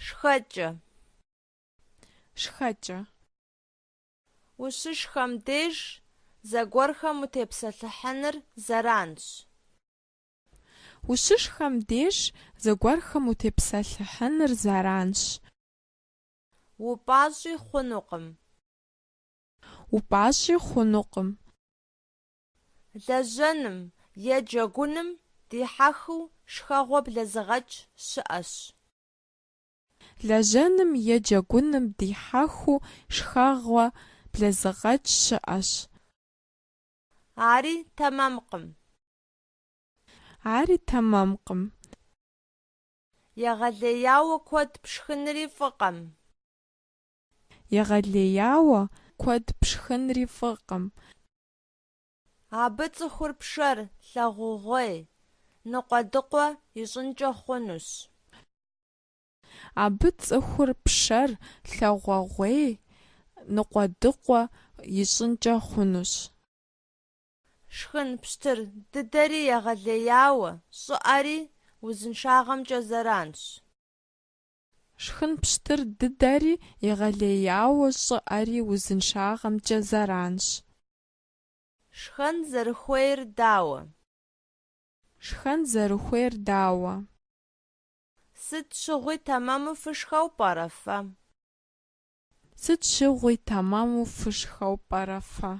Шхэкӏэ. Шхэкӏэ. Ущышхэм деж зыгуэрхэм утепсэлъыхьыныр зэранщ. Ущышхэм деж зыгуэрхэм утепсэлъыхьыныр зэранщ. Упӏащӏи хъунукъым. Упӏащӏи хъунукъым. Лэжьэным е джэгуным дихьэхыу шхэгъуэ блэзыгъэкӏ щыӏэщ. Лэжьэным е джэгуным дихьэхыу шхэгъуэ блэзыгъэкӏ щыӏэщ. Ари тэмэмкъым. Ари тэмэмкъым. Егъэлеяуэ куэд пшхынри фӏыкъым. Егъэлеяуэ куэд пшхынри фӏыкъым. Абы цӏыхур пшэр лъагъугъуей, ныкъуэдыкъуэ ищӏынкӏэ хъунущ. Абы цӏыхур пшэр лъагъугъуей, ныкъуэдыкъуэ ищӏынкӏэ хъунущ. Шхын пщтыр дыдэри егъэлеяуэ щӏыӏэри узыншагъэмкӏэ зэранщ. Шхын пщтыр дыдэри егъэлеяуэ щӏыӏэри узыншагъэмкӏэ зэранщ. Шхэн зэрыхуейр дауэ? Шхэн зэрыхуейр дауэ? Сыт щыгъуи тэмэму фышхэу пӏэрэ фэ? Сыт щыгъуи тэмэму фышхэу пӏэрэ фэ?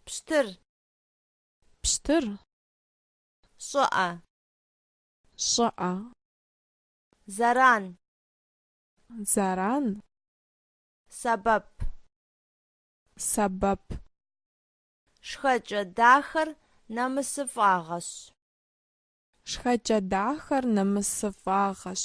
Пщтыр. Пщтыр. Щӏыӏэ. Щӏыӏэ. Заран. Заран. Сэбэп. Сэбэп. Шхэкӏэ дахэр нэмысыфӏагъэщ. Шхэкӏэ дахэр нэмысыфӏагъэщ.